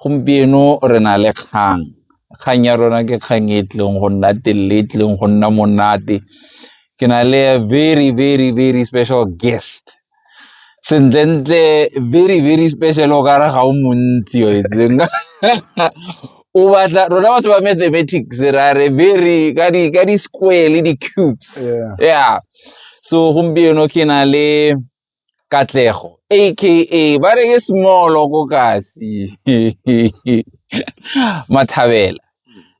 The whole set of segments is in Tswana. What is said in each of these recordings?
Gompieno re na le kgang, kgang ya rona ke kgang e tlileng go nna telele e tlileng go nna monate ke na le a very very very special guest sentlentle very very special o kare ga o montsi o itseng o batla rona batho ba mathematics ra re very ka di ka di-square le di-cubes yeah so gompieno ke na le Katlego aka ba re ke smolo ko kasi mathabela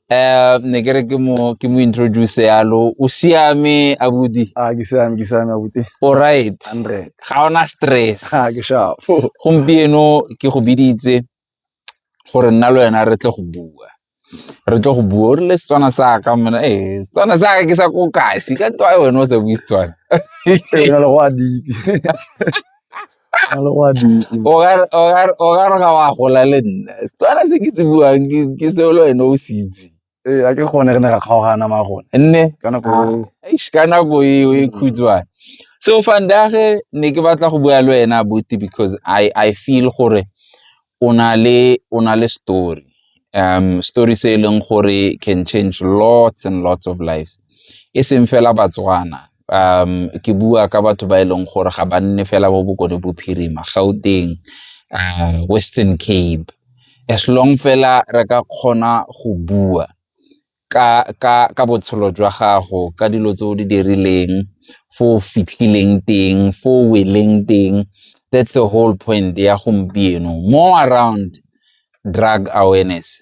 um ne ke re ke mo ke mo introduce yalo o siame abuti a ke siame ke siame abuti o right 100 ga ona stress a ke sharp gompieno ke go biditse gore nna le wena re tle go bua re tle go bua o rile setswana sa ka mona e setswana sa ka ke sa ko kasi ka nto a wena o sa bue setswana o ka re ga wa gola le nna setswana se ke se buang ke se le wena o se itse ee a ke gone re ne ra kgaogana ma gone nne ka nako eish ka nako eo e khutshwane so fandage ne ke batla go bua le wena buti because i i feel gore o na le o na le story um story se e leng gore can change lots and lots of lives e seng fela batswana um ke bua ka batho ba e leng gore ga ba nne fela bo bokone bophirima gauteng uh, western cape as long fela re ka kgona go bua ka, ka, ka botshelo jwa gago ka dilo tse o di dirileng fo o fitlhileng teng fo o weleng teng that's the whole point ya gompieno more around drug awareness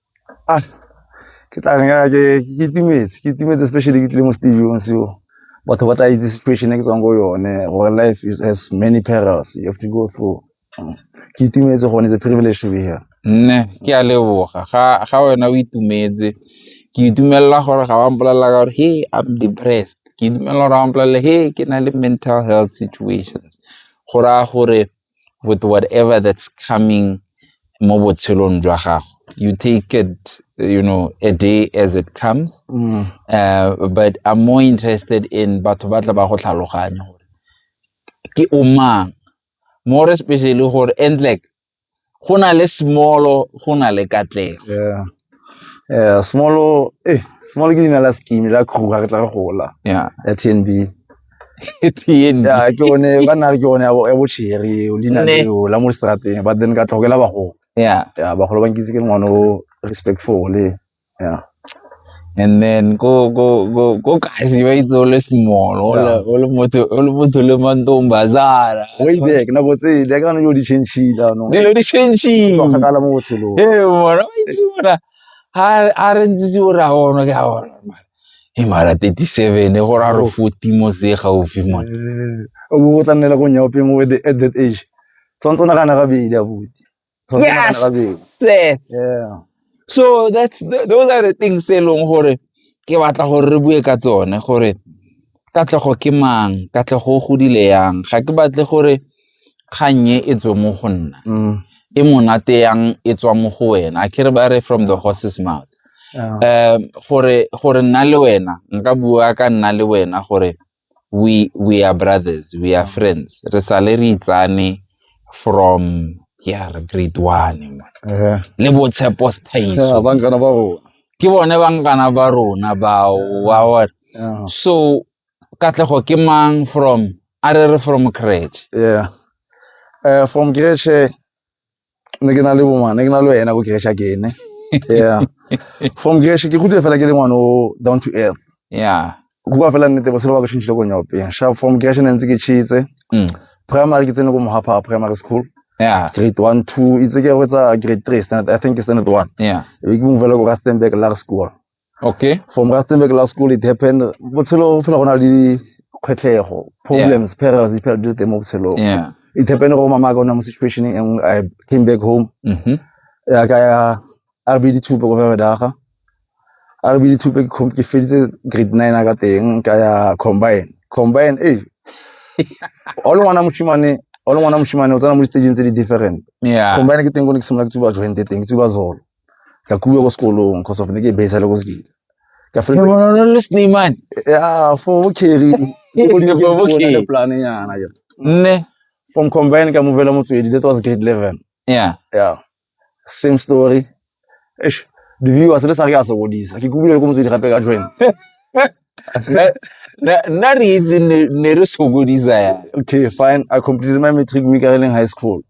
Ah, ke tla reng ah, ke ke itumetse ke itumetse especially ke tlile mo stadium so batho ba tla itse situation e ke tswang go yone gore life is has many perils you have to go through Mm. ke itumetse gone it's a privilege to be here nne ke a leboga ga ga wena o itumetse ke itumelela gore ga wa mpolelela ka gore hey i'm depressed ke itumelela gore ga wa mpolelela hey ke na le mental health situations go raya gore with whatever that's coming mo botshelong jwa gago you take it you know a day as it comes mm. uh, but i'm more interested in batho ba tla ba go tlhaloganya gore ke o mang more especially gore and like go na le smolo go na le katlego small eh small ke leina la scheme la crew ga re tla re gola ya ya TNB tn ya ke one ba nna re ke one ya bo- ya botšhere o leina Ne. leo la mo strateng but then ka tlhokela bagolo ya ya bagolo ba nkitse ke ngwana o respectful le ya and then ko ko ko ko kasi ba itse o le small o le- o le motho o le motho le mantombazana way back nako tsele ya kana dilo di change-ile anong dilo di change-ile kgakala mo botshelong e bona o itse bona ha a re ntse o ra ona ke a ona mara e mara 37 go ra re 40 mo se gaufi mona eh, o bo o tla nnela go nyaopeng o at that age tshwanetse o nagana gabedi abuti Ga ke nagana ka beng. Yes, sir. Yeah. So that's th- those are the things tse e leng gore ke batla gore re bue ka tsone gore katlego ke mang, katlego o godile yang. Ga ke batle gore kgang e e tswe mo go nna. Mm. E monate yang e tswa mo go wena. A ke re ba re from the horse's mouth. Yeah. um gore gore nna le wena nka bua ka nna le wena gore we we are brothers we are friends re sale re itsane from ya re grade one eh. le botshepo staiso bankana ba rona ke bone bankana ba rona bao wa bona so katlego ke mang from a re re from crèche yeah uh, from crèche ne ke na le bongwana ne ke na le wena ko keresha ke ene yeah from keresha ke gudile fela ke le ngwana o down to earth yeah go bua fela nnete botshelo ba ke shintshile ko nyope sha from keresha ne ntse ke cheetse mm. primary ke tsene ko mohapa primary school yeah grade one two itse ke go tsa grade three standard i think standard one yeah e ke move le ko rustenburg large school okay from rustenburg law school it happened botshelo fela go na le dikgwetlego problems yeah. perils di phela dilo teng mo botshelong yeah. it happened gore mama ka o ne mo situation e nngwe i came back home mm -hmm. ya ka ya a re bedi thupe ko fela daga a re bedi thupe ke feditse grade nine a ka teng ka ya combine combine e o le ngwana moshimane o le ngwana moshimane o tsena mo di-stageng tse di different combine ke teng ko ne ke simolola ke tsuba jointe teng ke tsuba zolo ka kuiwa ko sekolong cause of ne ke base le ko sekile ka fela le sneman ya fo bo carry o ne ke bo ke plan yana ke nne from combine ka movela motswedi that was grade 11 yeah yeah same story eish the viewers le sa re ka sokodisa ke kuile ko motswedi gape ka join nna re itse ne re sokodisa ya okay fine i completed my matric week in high school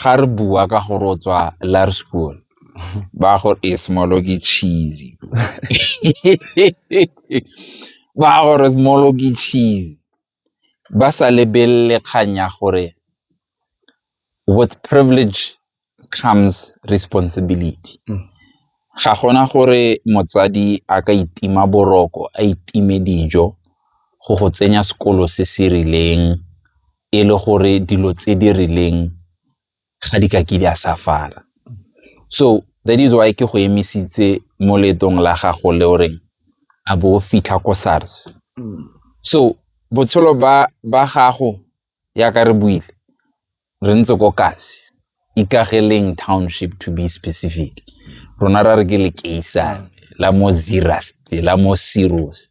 ga re bua ka gore o tswa laerskool ba gore e smolo ke cheesy ba gore smolo ke cheesy ba sa lebelele kgang ya gore with privilege comes responsibility mm. ga gona gore motsadi a ka itima boroko a itime dijo go go tsenya sekolo se se rileng e le gore dilo tse di rileng ga di ka ke di a safala so that is why ke go emisitse mo letong la gago le o reng a bo fitlha ko SARS mm. so botshelo ba ba gago ya ka re buile re ntse ko kasi ikageleng township to be specific rona ra re ke le keisane la mo zirasti la mo sirus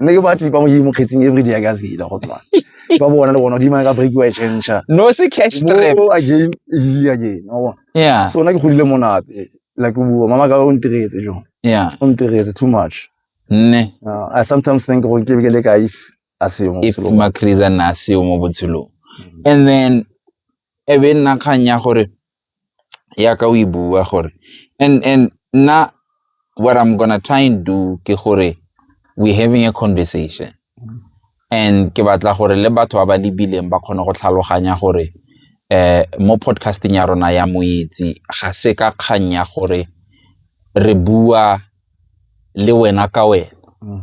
nne ke batlipa mo mo kgetsing every day ka zela go tloa ba bona le bona di mang ka break wa change no se cash trap mo again e again wa bona yeah so na ke godile monate like o bua mama ka o ntiretse jo yeah o ntiretse too much nne uh, i sometimes think go ke ke le ka if asiyo mo if makriza na asiyo mo botshelong mm. and then ebe nna kgang ya gore yaka o e bua gore and and nna what i'm gonna try and do ke gore we having a conversation and ke batla gore le batho ba ba lebileng ba kgone go tlhaloganya gore eh mo podcasting ya rona ya moitsi ga se ka kgang ya gore re bua le wena ka wena mm.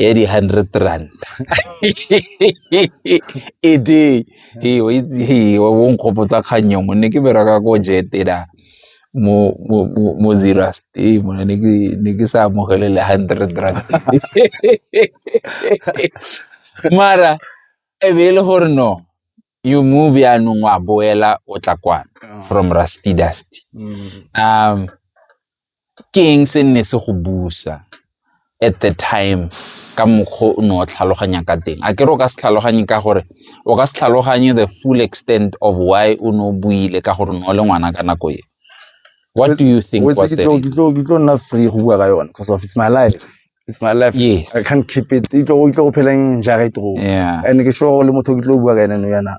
ya di-hundred rand e day o nkgopotsa kgang yongwe ne ke bereka ko jetela mo mo mo zero stay mo ne ke ne ke sa amogele le 100 rand mara e be e le gore no you move yaanong wa boela o tla kwana ah. from rusty dusty mm. um ke eng se nne se go busa at the time ka mokgwa o ne o tlhaloganya ka teng a ke re o ka se tlhaloganye ka gore o ka se tlhaloganye the full extent of why o ne o buile ka gore ne o le ngwana ka nako e what do you think was the reason? Ke tlo nna free go bua ka yone because of it's my life it's my life yes. i can't keep it e tlo go pheleng jare tro yeah. and ke sure le motho ke tlo bua ka ene no yana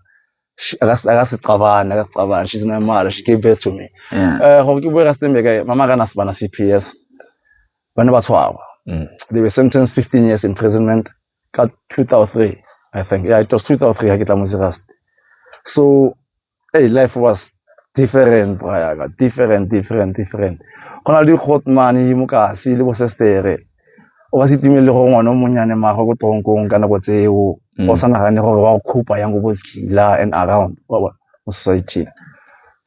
akasicabani akasicabani she's my mother she gave birth to me eh, gore ke bue ka stembeke mama kana sebana c p s ba ne ba tshwarwa mm. they were sentenced 15 years imprisonment ka 2003 i think yeah, it was 2003 ga ke tla mo serasti so Hey, life was different brayaka different different different go na le di-hot money mo kasi le bosestere o ka se timele gore ngwana o monnyane mago ko tronkong ka nako tseo mm. o sa nagane gore wa go khupa yang ko bosekila and around mo society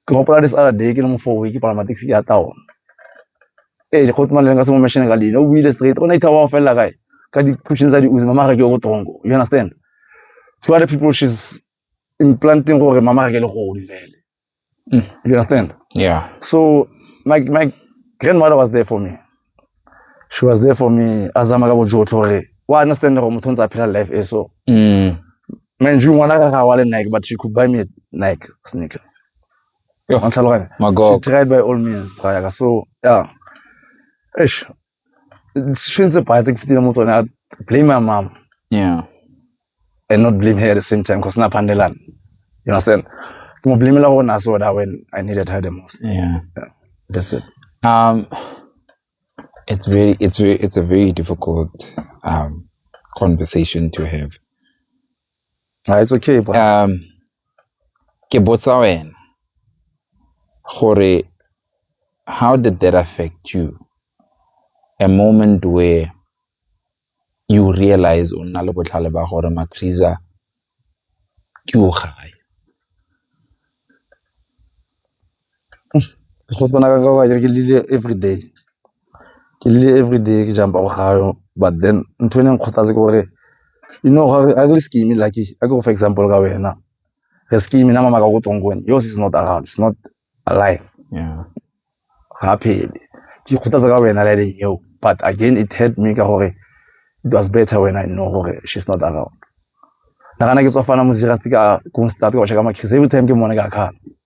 ke gopola this other day ke le mofowe ke palama taxi ya taona ee go tuma leng ka se mo mashine ka leina o buile straight o ne itha wa go felela kae ka di-pushing tsa di-uzi mamagake o ko tronko you understand two other people she's implanting gore mama ga ke le godi fele mm. you understand yeah so my my grandmother was there for me she was there for me a zama ka bojotlhe gore wa understand gore motho ntse a phela life e so mm. mind you ngwana ka ga wa le nike but she could buy me a nike sneaker she tried by all means prior so yeah ish sešweng tse paya tse ke fetile mo tsone a blame my mom yeah and not blame her at the same time because na pandelan you understand ke mo blamela go na soda when i needed her the most yeah, yeah. that's it um it's very it's very it's a very difficult um conversation to have Ah, it's okay bro. um ke botsa wena gore how did that affect you a moment where you realize o nna le botlhale ba gore macrisa ke o gae Go tshwana ka gore akere ke llile everyday, ke llile everyday ke jump-a ko ga o but then ntho e ne e nkgothatsa ke gore you know ga re scheme-e like a ke go fe example ka wena, re scheme-e nama maka ko teng ko wena yours is not around, is not alive ga a phele. Ke ikgothatsa ka wena line eo but again it hurt me ka gore it was better when I know gore she is not around. Nagana ke tswa fana Mzila ke a ko start ke watch-a ka makhrise everytime ke mmone ke a kgala.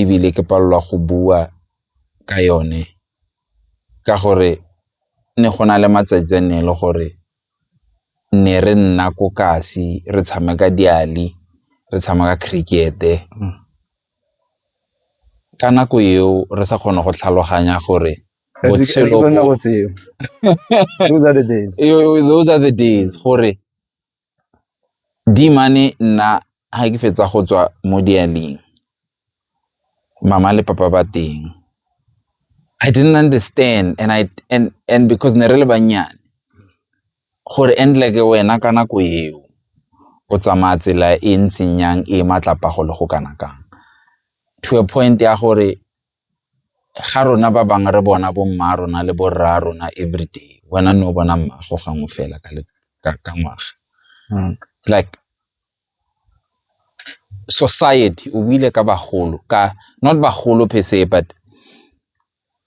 ebile ke palelwa go bua ka yone ka gore ne go na le matsatsi a nne le gore ne re nna ko kasi re tshameka diali, re tshameka cricket-e. Ka nako eo re sa kgone go tlhaloganya gore those are the days gore Dimane nna ga ke fetsa go tswa mo dialing, mama le papa ba teng. I didn't understand and I and and because ne re le bannyane gore and like wena ka nako eo o tsamaya tsela e ntseng jang e matlapa go le go kana kang to a point ya gore ga rona ba bangwe re bona bo mma rona le borra rona everyday wena ne o bona mmago gangwe fela ka ka ngwaga hmm. like society o buile ka bagolo ka not bagolo per se but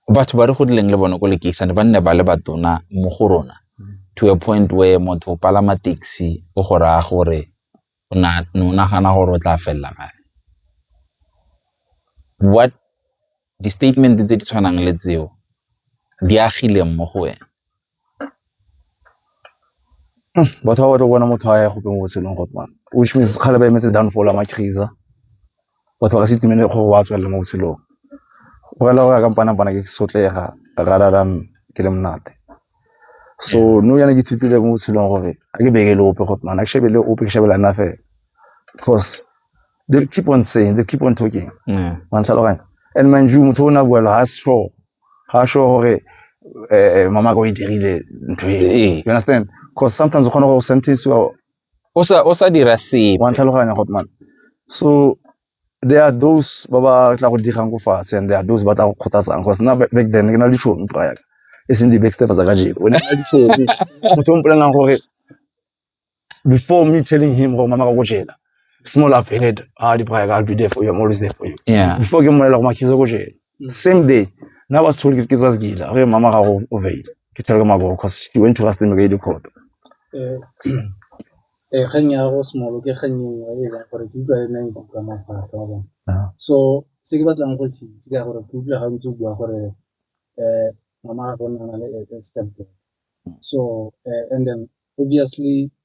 batho ba re godileng le bone ko lekeisane ba nne ba le batona mo go rona hmm. to a point where motho o palama taxi o go raya gore o ne o nagana gore o tla felela kae? What, di-statement-e tse di tshwanang le tseo di agileng mo go wena? Batho ba batla go bona motho a ya gope mo botshelong which means kgale ba emetse downfall ya Macheisa batho ba ka se itumele gore wa tswelela mo botshelong, go rela gore kampanapana ke sotlega rather than ke le monate. So nou yana ke ithutile mo botshelong gore ga ke bereke le ope gore ga ke shebe le ope ke shebela nna fela cause they keep on saying, they keep on talking wa ntlhaloganya and mind you motho o ne a bua lo ga se sure ga sure gore mama ka o e dirile ntho e you understand cause sometimes o kgona go sentence-iwa o sa o sa dira sepe wa ntlhaloganya go man so there are those ba ba tla go digang ko fatshe and there are those ba tla go kgothatsang because nna back back then ke na le ditšhono prior e seng di-backstep tsa ka jeko ne na ditšhono motho o mpolelang gore before me telling him gore mama ka ko jela small I've heard ah di prior I'll be there for you I'm always there for you yeah before ke mmolela gore makhizo ko jela same day na ba se tshole ke tsa sekila re mama ga go overile ke tshole ka maboko cause she went to rust mega court eh kgang ya go smolo ke kgang e nngwe e leng gore ke utlwa e neng go ka mafatlha wa bona ah. so se ke batlang go se itse ka gore ke utlwa ga ntse o bua gore eh mama ga go nna le step so eh, and then obviously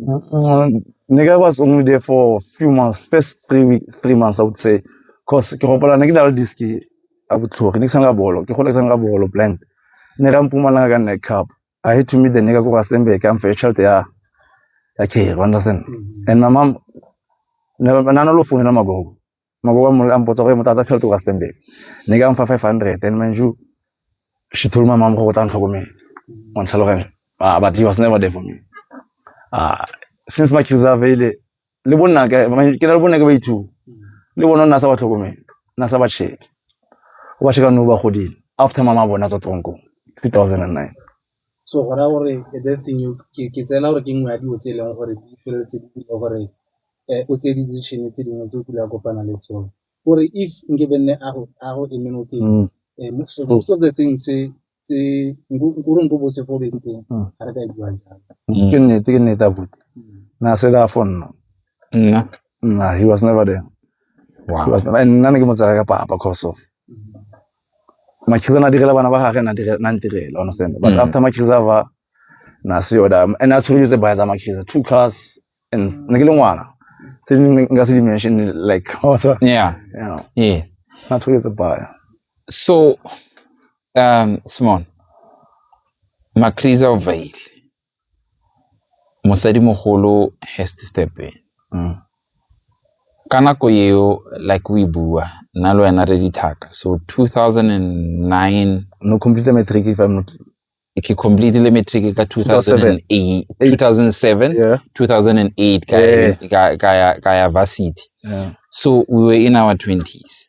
Mm, nigga was only there for a few months, first three week, three months, I would say. Cause ke gopola ne ke dalo diski a botlhogi, ne ke sanga bolo, ke gola ke sanga bolo blank. Ne ra mpumalanga ka neck cup. I had to meet the nigga ko Rustenburg, I'm for child ya ya ke, you understand? Mm-hmm. And my mom, ne na no lo founela magogo. maboko mo a mpotsa gore motho a tsa tšhelete kwa Stanbic ne ka mfa 500 and man you she told my mom go tla ntlhokomela wa ntlhaloganya ah but he was never there for me ah since my kids are available le bonna ke ke le bonna ke ba ithu le bona nna sa ba tlhokomela nna sa ba check wa sheka no ba godile after mama bona tswa tronko 2009 So go raya gore ke tsela gore ke nngwe ya dilo tse e leng gore di feleletse di dira gore o tseye di-decision tse dingwe tse o kile wa kopana le tsone. Gore if nke be nne a go eme mo teng most of the things tse nkore nko bo se fo beng teng ga re ka e bua jalo. Ke nnete ke nnete abuti na se da fo nna nna nna he was never there nna ne ke mo tsaya ka papa cause of. Makhizana na direla bana ba gage na dire na ntirela understand but mm. after Makhiza ba na se yoda and a tshwere tse ba tsa Makhiza two cars and ne ke le ngwana tse dingwe nka se dimension like what's up yeah yeah yeah na tshwere tse ba so um Simon Makhiza o veile Mosadimogolo has to step in. Mm. Ka nako eo like we bua nna le wena re dithaka so 2009 no complete matric if I'm not ke completely matric ka 2008 2007 yeah. 2008 ka yeah. ka ka ya varsity yeah. so we were in our 20s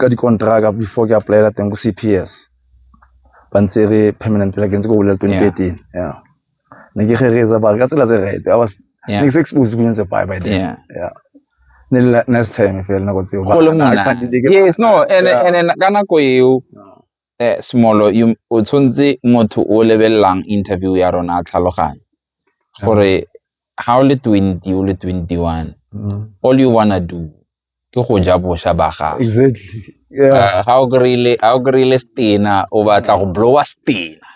ka dikonteraka before ke apply-ela teng ko C_P_S ba ntse re permanent like ntse ko bolela twenty thirteen yeah ne ke rereetsa ba ka tsela tse right I was ne ke se exposed ko ntse bye by then yeah yeah ne le next time fela nako tseo ba go le monate yes no and and ka nako eo eh, smolo o tshwanetse motho o lebelelang interview ya rona a tlhaloganye gore ga o le twenty o le twenty one mm. all you wanna do ke go ja bosha ba gago exactly yeah. ga o kry-ile ga o kry-ile stena o batla go blowa stena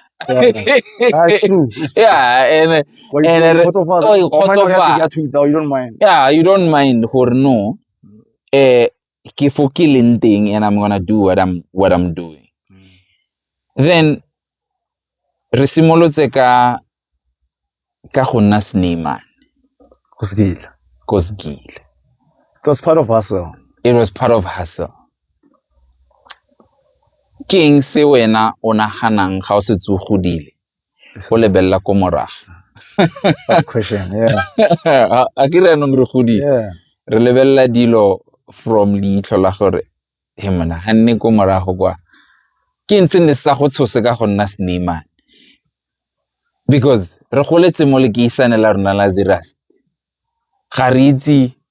yeah and and oh, you don't mind gore no eh ke fo ke leng teng and I'm gonna do what I'm what I'm doing. Mm. Then re simolotse ka ka go nna Sneeman. Go skile. Go skile. It was part of hustle. It was part of hustle. Ke eng se wena o naganang ga o se tsogodile o lebelela ko moraga a ke re anong re godile re lebelela dilo from leitlho la gore he mona ga nne ko morago kwa ke ntse ne sa go tshose ka go nna sneeman because re goletse mo lekeisane la rona la zeras ga re itse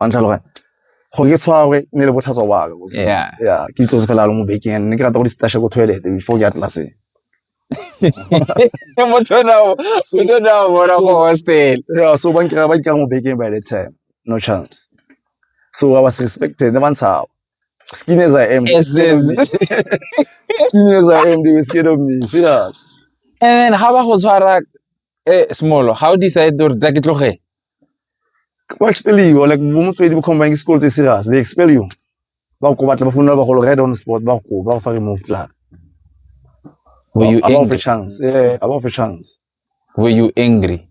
wa ntlhaloganya gore ke tshwara gore ne le botlhatswa wa ka yeah yeah ke itlose fela lo mo bekeng and ne ke rata go di-stashe ko toilet before ke ya tlelaseng motho o ne a- motho o ne a bona ko hostel yeah so ba nkira ba nkira mo bekeng by that time no chance so i was respected ne ba ntshaba skin as i am they were Yes, scared of me. skin as i am they were scared of me serious and then ha ba go tshwara eh smolo how decide gore tla ke tloge Ke ba expel you like bo motswedi bo combine school tse serious they expel you. Ba go batla ba founela ba go right on spot ba go ba go fa remove tla. Were you angry? About a chance. Yeah, about a chance. Were you angry?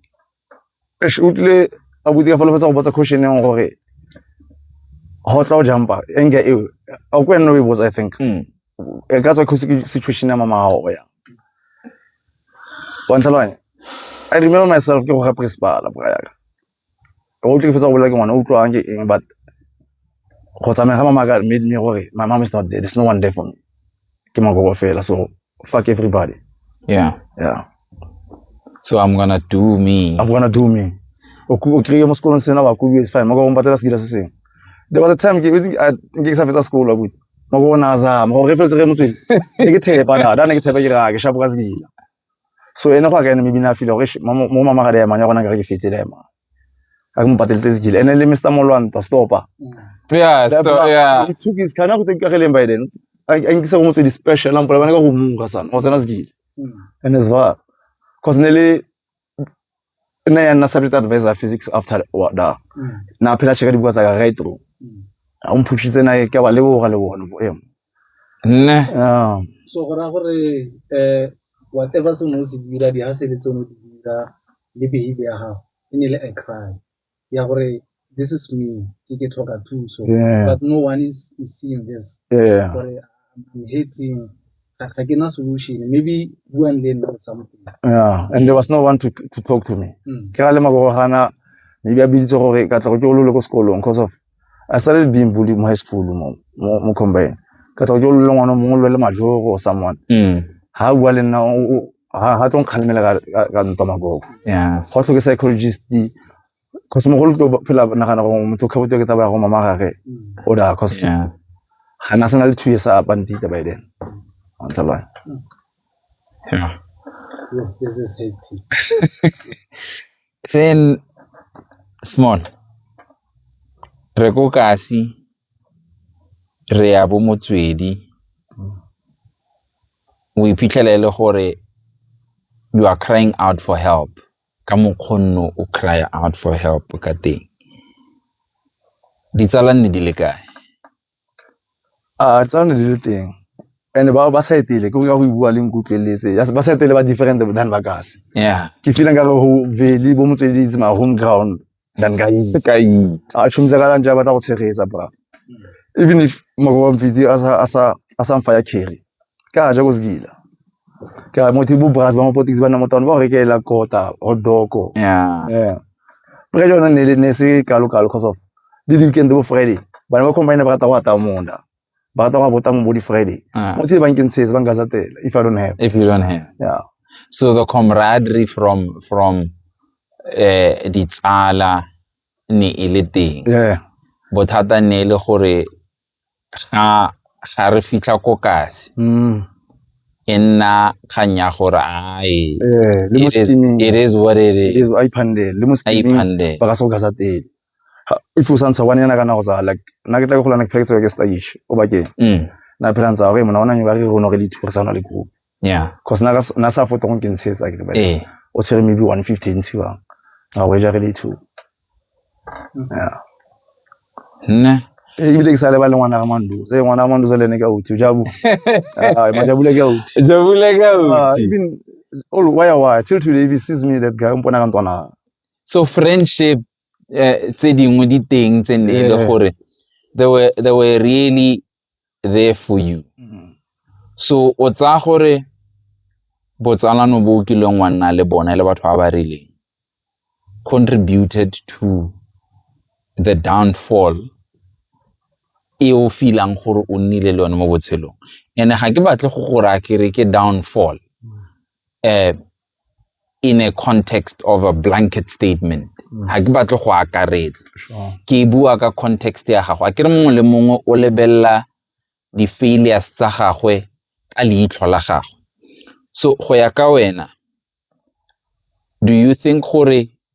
Eish utlile a botse ka fa lefatsa go botsa question yang gore ho tla o jumpa anger eo. A o kwena o e botsa I think. Mm. e ka tswa kgosi ke situation ya mama gago ya wantlhalwanye i remember myself ke go ga principala bora yaka o tle ke fetsa go bolela ke ngwana o utlwang ke eng but go tsamaya ga mama ka made me gore my mom is not there there's no one there for me ke magobo fela so fuck everybody yeah yeah so i'm gonna do me I'm gonna do me. O ku- o kry-e mo sekolong sena wa kubiwa is fine. Maka o patela sekila se seng. There was a time ke itse a nke ke sa fetsa sekolo wa kudu. Maka o na zama gore re feletse re motswedi. Ne ke thepa da da ne ke thepa ke ra ke shapo ka sekila. So ene go a ka ene maybe na feel gore "Eish, mama- mo mama ga le yamane ya gona ka re ke fetile ya mama. Ka ke mo pateletse sekila. Ene le Mr. Molwanta stopa. yeah That so, black- yeah He took his car na go tse ka geleng by then. A a nkisa go motswedi special a mpola bana ka go mura sana. O tsena sekila. and as well cause nearly nna ya nna subject advisor physics after da mm. na phela cheka dibuka tsa ka right through mm. a o mphushitse na ke ba leboga le bona bo emo nne ah. so go ra gore eh whatever se no se dira di ha sebetse no di dira le behavior ya gago e ne le a crime ya gore this is me ke ke tlhoka thuso but no one is, is seeing this yeah. gore I'm hating ga ke na solution maybe buang le nna something yeah and there was no one to, to talk to me mm. ke ga le magogana maybe a biditse gore ka tlogo ke o lole ko sekolong because of I started being bullied in high school mo mo mo combine. Ka tla go lolong ono mongwe lwele majoro or someone. Mm. Ha bua le nna o ha ha tong khalemela ka ka- ka ntwa magogo. Yeah. Go tlhoke psychologist. Cause mogolo tlo phela nagana gore motho o khabotse ke taba ya go mama gage. O da cause Yeah. ga na sena le two years a bandita by then. Wa ntlhaloganya. Yeah. Yes, yes, yes, hectic. Finn small re ko kasi re ya bo motswedi o iphitlhela e le gore you are crying out for help ka mokgonno o cry out for help ka teng ditsala nne di le kae A tsa ne di le teng and ba ba sa etele ke go bua le nkutlweletse ba sa etele ba different than ba kasi yeah ke feel nka re ho vele bo motswedi itse ma home ground than ka itse ka itse a shumisa ka lantsa ba tla go tshegetsa bra even if moko wa mfiti a sa a sa a sa mfa ya carry ka ja ko sekila ka motho bo bras ba mapotisi ba nna mo taone ba go rekelela kota or doko yeah yeah pre jona ne le ne se kalo kalo cause of le di weekend bo friday bana ba combine ba rata go ata monda ba rata go bota mo bo di friday Ah. motho ba nkeng tshetse ba nka za tela if i don't have if you don't have yeah so the camaraderie from from eh ditsala ne e le teng yeah bothata ne e le gore ga ga re fitlha ko kasi mm. e nna kgang ya gore ae eh, it is what it is a iphandele le mo skimming ba ka se go gasa tele if o santsha one yana kana go sa like na ke tla go golana ke pheketse ke stage o bakeng mm. na phela ntsa go e mona ona nyo ba re go no re le thurisana le group yeah cause na na sa foto go nkentshetsa ke ba eh o tshwere maybe 150 ntsi wa ga go ja really two yeah nne e bile ke sa lebale ngwana ga mando se ngwana ga mando se lene ka uti jabu ah ma jabu le ka uti jabu le ka uti ah, even all why why till today if he sees me that guy mpona ka ntwana so friendship eh, tse dingwe di teng tse ne e le gore they were they were really there for you mm-hmm. so o tsaya gore botsalano bo o kileng wa nna le bone le batho ba ba rileng contributed to the downfall e o feelang gore o nnile le yone mo botshelong and ga ke batle go gore a kere ke downfall um in a context of a blanket statement mm. ga ke batle go akaretsa ke bua ka context ya gago a ke re mongwe le mongwe o lebelela di-failures tsa gagwe ka leitlho la gagwe so go ya ka wena do you think gore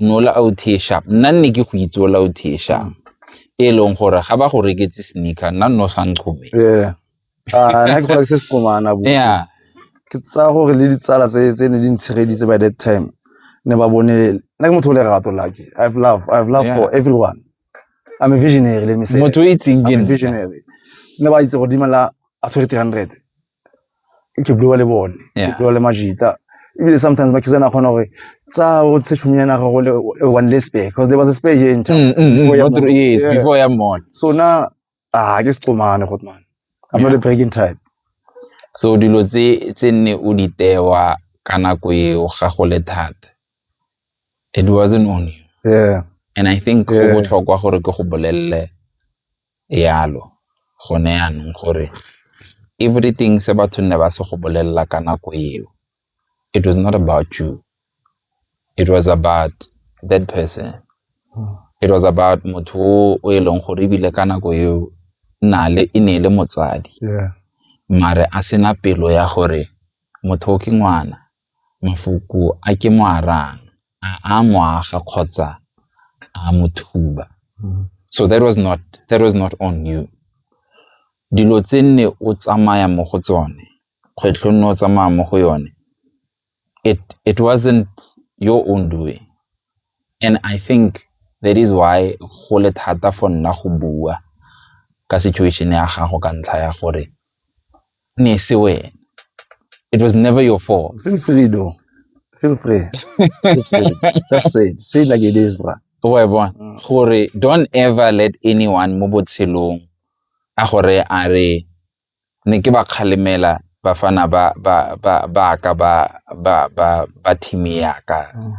no la out here sharp nna nne ke go itse o la out here sharp e leng gore ga ba go reketse sneaker nna nno sa nchome yeah ah nna ke go reketse setsomana bo yeah ke tsa gore le ditsala tse tse ne di ntshegeditse by that time ne ba bone nna ke motho o le rato lucky i have love i have love yeah. for everyone i'm a visionary let me say motho o itseng ke visionary ne ba itse go dimela a tshwere 300 ke bua le bone ke bua le majita ebile sometimes ba kisa na kgona gore tsa o tshe tšhomi ya naga go le one less bear because there was a spare here in town mm, mm, mm, before, mm, yes, yeah. before ya mall so na ah ke sexomane got man i'm yeah. not a breaking type so dilo tse tse nne o di tewa ka nako eo ga go le thata it wasn't on you yeah and i think go botlhokwa gore ke go bolelele yalo gone yanong gore everything se batho ne ba se go bolelela ka nako eo it was not about you, it was about that person. It was about motho o e leng gore ebile ka nako eo nale e ne e le motsadi mare a sena pelo ya gore motho o ke ngwana Mafoko a ke mo a rayang a a mo aga kgotsa a a mo thuba. So that was not, that was not on you. Dilo tse nne o tsamaya mo go tsone, kgwetlho nne o tsamaya mo go yone, it wasn't your own doing. And I think that is why go le thata for nna go bua ka situation ya gago ka ntlha ya gore ne se wena it was never your fault feel free though feel free, feel free. just say it. say it like it is bra wa bona mm. gore don't ever let anyone mo botshelong a gore a re ne ke ba kgalemela bafana ba ba ba ba ka ba ba ba ba team ya ka mm.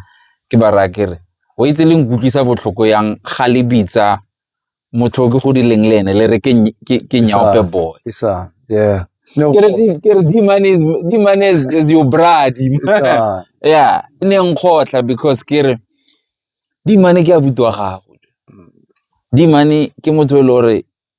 ke ba raya ke re o itse le nkutlwisa botlhoko yang ga le bitsa motho o ke go dileng le ene le re ke nyaope boy yeah No. Kere, kere D-Man is, D-Man is, is your bra, D-Man. yeah, ne nkgotla because kere D-Man ke abuti wa gago. D-Man ke motho e le gore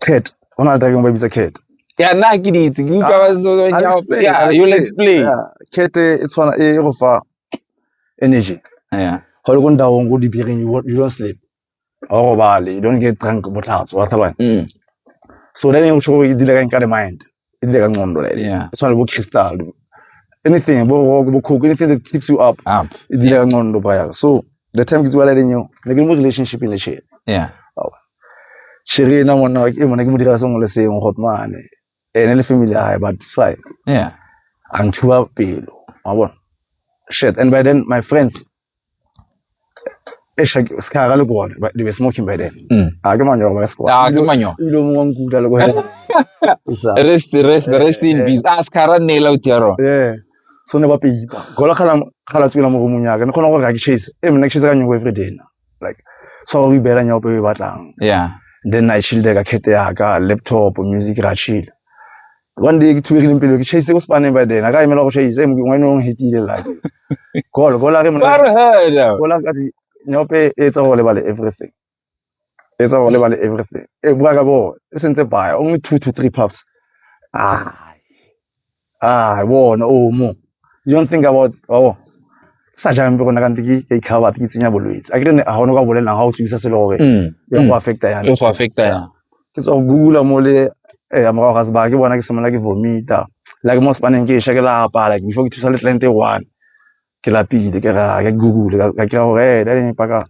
Cat. Ona le tageng ba bitsa cat. Ya nna ke di itse. Ke utlwa ba ntse ba nyao. Ya, you let's play. Cat e tshwana e go fa energy. Yeah. Go le ko ndawong go dibiring you don't sleep. Ga go robale, you don't get drunk botlhatso, wa tlhaloganya. So then e go tsho go e dile ka nka the mind. e dile ka ncondo like Yeah. e tshwana le bo crystal anything bo rock bo coke anything that keeps you up up e dile ka ncondo braya so the time ke tsewa laleng eo ne ke le mo relationship le shit yeah shere ena monna e mona ke mo direla sengwe le sengwe got mane ene le family ya hae but it's fine yeah a nthuba pelo wa bona shit and by then my friends eish ha ke- se ka ga le gone but they were smoking by then Mm. a ke manyoro ba ka se Ah, ke manyoro. ebile o mongwe wa nkuta le gone Isa. rest rest rest in peace a se ka ra nela o tiaro yeah so ne ba peipa gola khala khala tswela mo romong ya ka ne khona go ga ke chase e mna ke chase ka nyoko every day na like so go ibela nyoko pe batlang yeah then i chill ka khete ya ka laptop music ra chill one day ke tshweregileng pelo ke chase ko spaneng by then a ka emela go chase e mongwe no hetile la golo gola re mona re hela gola ka di nyope e tsa go lebale everything e tsa go lebale everything e bua ka bo e sentse by only two to three puffs ah ah bona o oh, mo you don't think about oh sa jang be gona ka ntse ke ke ikgaba ke tsenya bolwetse a ke ne a gone ka bolelang ga o tswisa selo gore mm. e go mm. affecta yana e go affecta yana ke tswa go Google-a mo le morago ga sebaka ke bona ke simolola ke vomit-a like mo sepaneng ke e sha ke lapa like before ke thusa le client e one ke lapile ke ra ke Google ka kry-a gore ee that e paka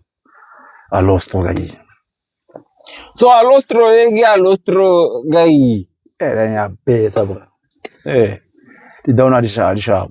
a low stroke ka eng. So a low stroke e ke a low stroke ka eng. Ee then ya betsa bra ee di down-a di sharp.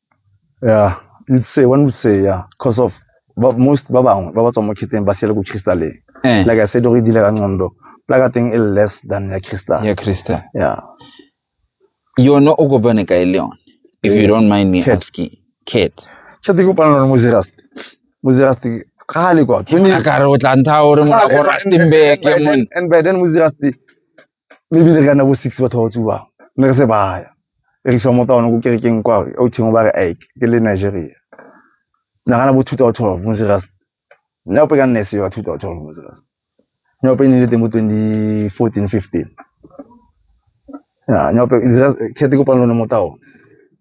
yeah you'd say one would say yeah because of ba, most ba bangwe ba ba tswang mo kheteng ba siele ko crystaleng eh like i said o re dile ka ncondo plaka teng e le less than ya crystal ya krista yeah yona o kopane kae le yone if you don't mind me Cat. asking cat tšha te kopana lone mozerasti mozerasti kgale kwa a ka re o tla ntha gore molago rastembeke mon and by then mozerasti maybe re ka nna bo six batho ba ba tsubang ne re se baya e re isa mo taone ko kerekeng kwa o thengwe ba re ike ke le nigeria nagana bo two thousand twelve mo serious nyaope ka nne sewa two thousand twelve mo serious nyaope e ne e le teng mo twenty fourteen fifteen ya nyaope kgethe kopano lone mo taone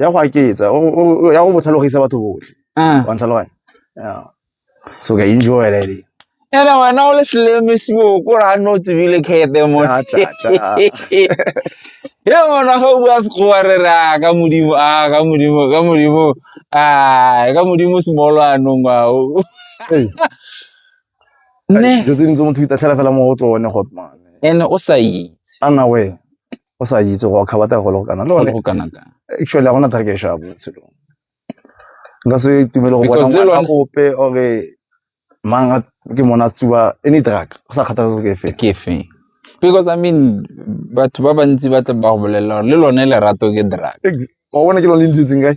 ya go aketsa o- o- o- ya go botlhalogisa batho botlhe Ah. wa ntlhaloganya Yeah. so ka enjoy that day. ene wena o le selemesiwo ko ra no tsebile kete mo Cha, cha, cha. ye ngwana ga o bua sekgowa re re a ka modimo a ka modimo ka modimo a ka modimo semolo anong ao Hey, ne dilo tse dingwe tse motho o itatlhela fela mo go tsone hotman ene o sa itse ana we o sa itse go kgaba tla go le go kana le one go kana ka actually a gona thaka e shabo selo nka se itumele go bona ngwana ope ore manga ke mona tsuba any drug go sa kgathatsa go ke fe ke fe because i mean batho ba bantsi ba tla ba go bolelela le lone lerato ke drug o bona ke lone le ntsitseng kae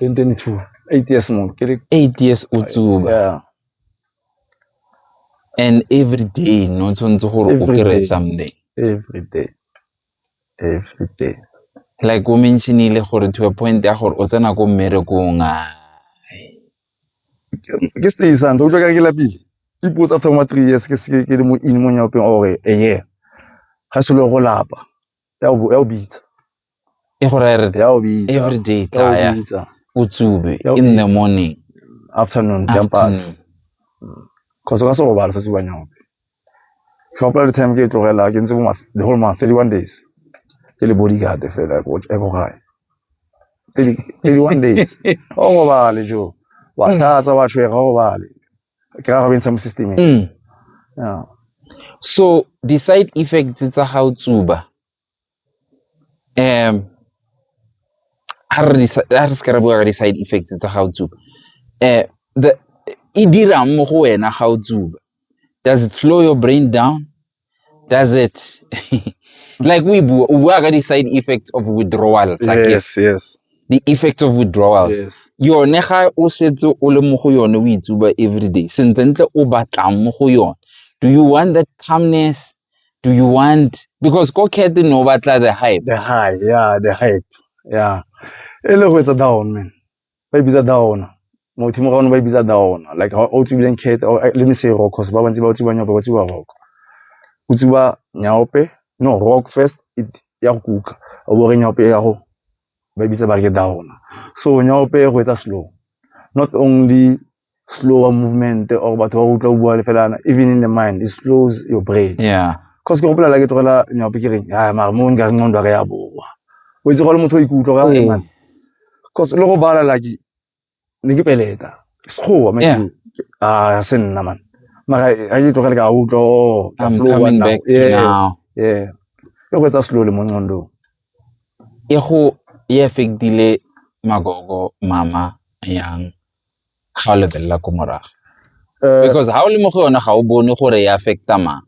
2022 8 years mo ke le 8 years o tsuba yeah and every day no tshwanetse gore o kry something every day every day like o mentionile gore to a point ya gore o tsena ko mmerekong a ke stay santle o tlo ka ke lapile ipotsa after ma three years ke se ke le mo in mo nyapeng ore eye ga se lo go lapa ya o bitsa e go raya re ya o bitsa every day ya o tlaya bitsa o tsube Ya o in the bitsa. morning afternoon campus afternoon. cause ka se robala sa tsubanya ope ke gopola le time ke e tlogela ke ntse bo ma- the whole month 31 days ke le bodyguard fela ya ko ya ko gae 30 31 days o robale jo wa Mm. tlatsa wa tshwega o robale ke ra go bentsha mo systemeng Mm. yeah so di-side effects tsa ga o tsuba Ha re se ka ra bua ka di-side effects tsa ga o tsuba, e dirang mo go wena ga o tsuba, does it slow your brain down, does it like o e bua, o bua ka di-side effects of withdrawal di-effects of withdrawal. Yone ga o setse o le mo go yone o e tsuba everyday, sentlentle o batlang mo go yone, do you want that calmness, do you want because ko cat no batla the hype the hype yeah the hype yeah e le go etsa down man ba e bitsa down mo thimo ga one ba e bitsa down like ha o tsibileng cat eh, le me se rock cause ba bantsi ba tsiba nyaope ba tsiba rock o tsiba nyaope no rock first it ya go kuka o bo re nyaope ya go ba e bitsa ba re down so nyaope go etsa slow not only slower movement or batho ba utlwa bua le fela even in the mind it slows your brain yeah cause ke gopola la ke tlogela nyape ke reng a mare mo nka re nqondo re ya boa o itse gole motho o ikutlwa ka reng cause le go bala la ke ne ke peleta ke sekgowa ma ke a se nna man mara a ke tlogele ka utlwa oh, ka flow now yeah yeah e go etsa slowly mo nqondong e go e affectile magogo mama yang ga o lebelela ko morago eh, because ha o le mo go yone ga o bone gore e affecta mang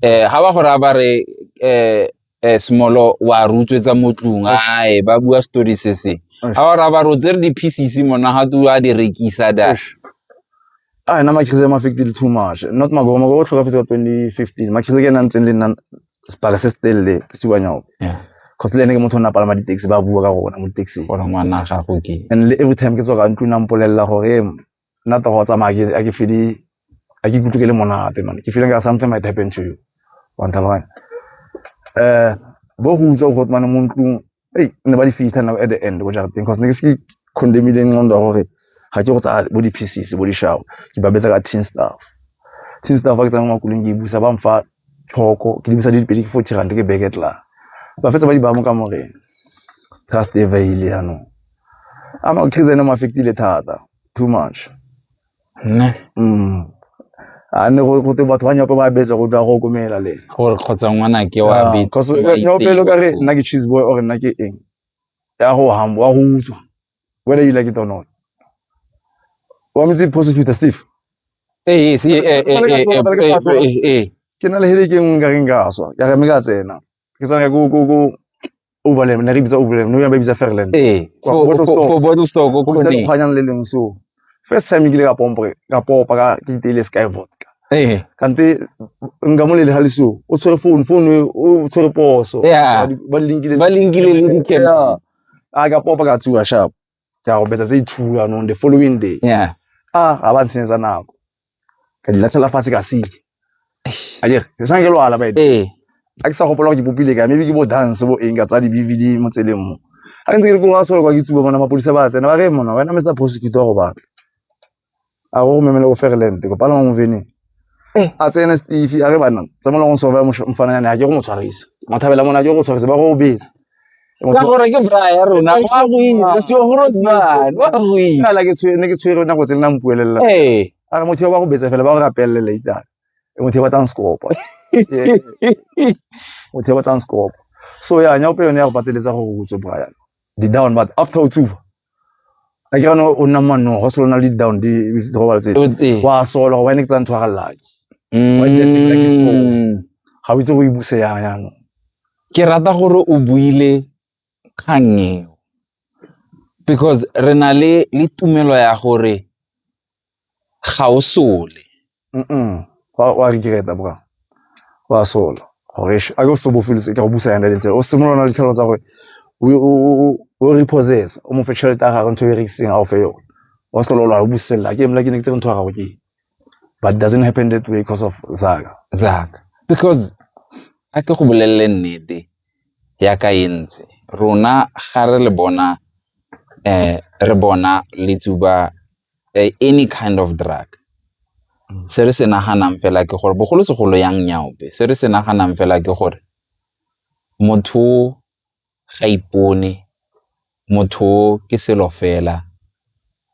eh ha ba gore a ba re eh eh smolo wa rutswetsa mo tlung ae ba bua story se se ha ba ra ba rotse re di pieces mona ha tu a di rekisa da a na ma khise ma affected too much not ma go ma go tlhoka fetsa 2015 ma khise ke nang tseng le nna sebaka se se telele ke supa nyao yeah cause le ene ke motho o ne a palama di-taxi ba bua ka gona mo di-taxing gore ngwana a gago ke and le every time ke tswa ka ntlong na mpolelela gore ee, nna togo o tsamaya a ke fele a ke ikutlwe ke le monate mane ke feeling ka something might happen to you wa ntlhaloganya um bo go utswa go mane mo ntlong ei ne ba di fitlha now at the end ko jarateng cause ne ke se ke condemile nqondo ya gore ga ke go tsaya bo di-pieces bo di-show ke ba betsa ka tin staff tin staff fa ke tsaya mo makuleng ke e busa ba mfa tlhoko ke di busa di dipedi ke forty rand ke beke tla ba fetsa ba di baya mo ka moreng trust e vaile yanong ama case ene mo affectile thata too much a ne gote batho ba nyope ba betsa go dwa go komela le gore kgotsa ngwana ke wa betopele ka re nna ke cheese boy ore nna ke eng ya go hamba wa go utswa whether you like it or not wa metse prosecutor steve ee ke na le hele ke nngwe ka reng ka swa ya re me ka tsena ke tsamaya ko ko ko overland ne re bitsa overland no ya ba bitsa fairland eh for for bottle store ko ko ne kgwanyang le leng so first time ke le ka pompo ka popa ka ke tele sky vodka eh kante nka mo le hali so o tshwere phone phone o tshwere poso ba linkile ba linkile le dikela a ka popa ka tsuwa sharp tsa go betsa tse two anong the following day yeah ah ga ba ntshenyetsa nako ka di latlhela fatshe ka seke a ke ke sa ke lwala bae ee a ke sa gopola go ke popile ka maybe ke bo dance bo eng ka tsa di bvd mo tseleng mo a ke ntse ke re ko ga solo kwa ke tsuba mona mapodisa ba tsena ba re mona wena mr prosecutor go batla a go memele go ferland ko palama mo vene eh. a tsene steve a re bana tsa mo leng sofela mfana yana a ke go mo tshwarisa mathabela mona ke go tshwarisa ba go betsa ka gore ke bra ya rona wa go ile se go rozana wa go ile nna la ke tshwere ne ke tshwere nako tse nna mpuelela eh a re motho ba go betsa fela ba go rapelle later e motho ba tang skopa motho ba tang skopa so ya nya ope yone ya go pateletsa go go tswe bra ya di down but after o tsufa a ke gane o nna manong go selo na le di-down di di gobala tse O tee. wa sola go wine ke tsa ntho ga llake Wa itse tsela ke Mm. seo. ga o itse go e buse yang yanong ke rata gore o buile kgang eo because re na le le tumelo ya gore Ga o sole wa regret-a bro, wa sola gore eish a ke o se o bo o feleletse e kare o busa yana le itseng, o simolola o na le ditlhong tsa gore o repossess-e, o mo fe tšhelete ya gagwe ntho e o e rekisitseng a go fe yone, wa sala o lwala o buselela ake nna ke ne ke tsere ntho ya gago ke e, but it doesn't happen that way cause of Zaka. Because a ke go bolelele nnete yaka e ntse, rona ga re le bona re bona letsuba eh, any kind of drug mm. se re se naganang fela ke gore bogolosegolo yang nyaope se re se naganang fela ke gore motho ga ipone motho ke selo fela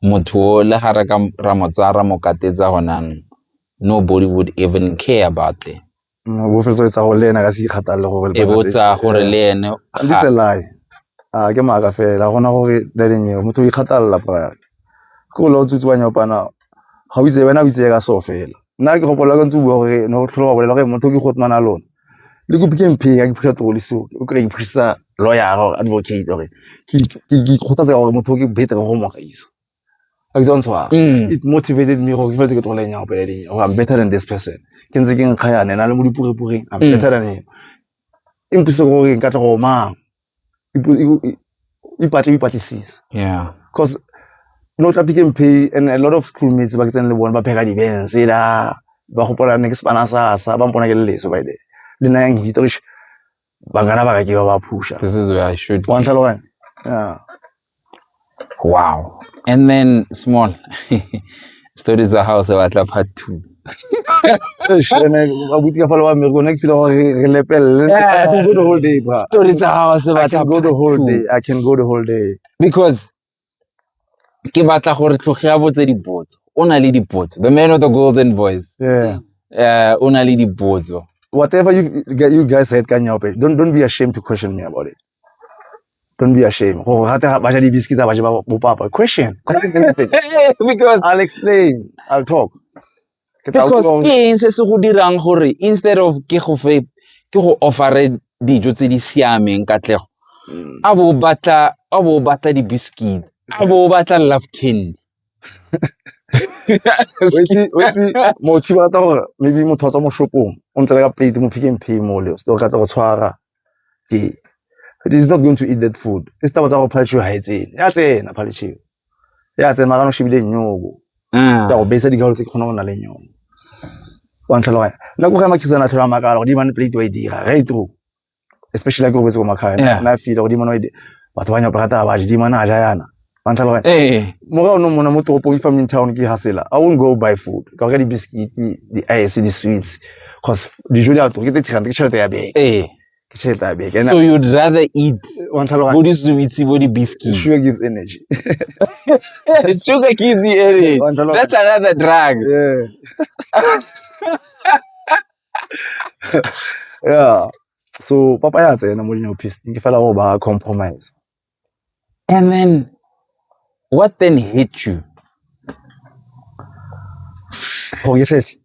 motho le ga re ka ra mo tsaya ra mo katetsa gonang nobody would even care about them Mm, bo fetsa etsa gore le ene a ka se ikgathalele gore e bo tsaya gore le ene di tselae a ke maaka fela gona gore le leng eo motho o ikgathalela prior ke o le o tsutse wa nyopana ga o itse wena o itse ka so fela nna ke gopola ka ntse bua gore ne go tlhola bolela gore motho ke go tmana lona le go pitse mphe ya ke phisa tlo le so o kry ke phisa lawyer or advocate or ke ke khotsa gore motho ke better go mo gaisa a kitsa ntshwa mm. it motivated me gore ke fetse ke tlogole nyang go pele ding or i'm better than this person ke ntse ke nkga yane na le mo dipurepureng i'm mm. better than him e mpuse gore nka tla go mang ipatle o ipatlisisa yeah because no tla pick and pay and a lot of schoolmates ba ke tsene le bone ba pheka di-bens ela ba gopola ne ke sepana sa sa ba mpona ke le leso by the le nayang hita ba kana ba ka ke ba ba phusha this is where i should wa ntlhaloganya yeah wow and then small story tsa gago se batla part two abuti ka falo wa mmere kone ke file gore re lepelele go the whole day bra story tsa gago se batla go the whole day i can go the whole day because ke batla gore tlhoge ya botse dipotso o na le dipotso the man of the golden voice yeah uh, o na le dipotso whatever you you guys said ka nyaope don't don't be ashamed to question me about it don't be ashamed go gate ba ja di biscuit ba ja bo papa question because i'll explain i'll talk Ke tla because utlwa- ke eng se se go dirang gore instead of ke go fe ke go offere dijo tse di siameng katlego Mm. a bo batla a bo batla di biscuit a bo batla love candy Wetse- wetse, motho ba rata gore maybe motho wa tswa mo shopong o ntle le ka plate mo pick and pay mo le o ka tla go tshwara Ee, it is not going to eat that food. Ke setaba tsa go phalitšhiwa ga e tsene. Ya tsena phalitšhiwa. Ya tsena magano shebile nyoko. Ah. Tsa go besa digalo tse ke kgona go na le nyoko. Wa ntlhaloga. Nna go ga makhisana a tlhola makala go di man plate wa e dira. Re true. Especially ke go bese go makhae. Na feel go di man wa e dira. Batho ba nyapa rata ba di man a ja yana. wa ntlhaloga eh mora o no mona mo toropong e farming town ke hasela i won't go buy food ka reka di-biscuit di-ice di-sweets cause dijo di a tura ke thirty rand ke tšhelete ya beke eh ke tšhelete ya beke so you'd rather eat wa ntlhaloga bo disubitsi bo di-biscuit sugar gives energy sugar gives you energy Wa ntlhaloga- that's another drug yeah yeah so papa ya tsena mo dino pisting ke fela go ba compromise And then what then hit you? Go ke tletse.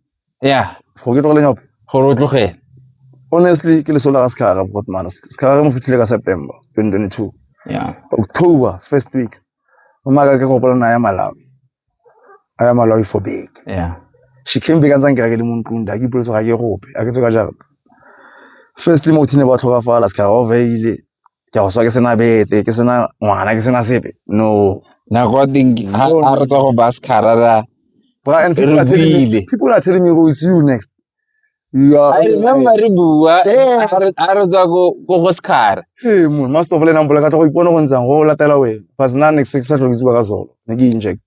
Yeah. Go ke tlogele nyope. Gore o tlogele. Honestly, ke le sola ka sekara bot man. Sekara mo fitlhile ka September 2022. Yeah. October first week. Mama ka ke go bona ya Malawi. I am alive for beke. Yeah. She came back and sang kereke le mo ntlong da ke ipoletse ga ke gope a ke tse ka jarata firstly mo thine ba tlhokafala se ka ga oveile ke a go swa ke sena bete ke sena ngwana ke sena sepe no nako ya teng ke- ha ha re tswa go baskara ra Bra, and people are, telling me, Rubile. people are telling me go see you next You are- I remember re bua Eh. a re- a re tswa ko ko go sekhara Hey, mo ma stofo le nang bola ka tla go ipona go ntsang go latela we fa sna next six sa tlogitsi ba ka solo ne ke inject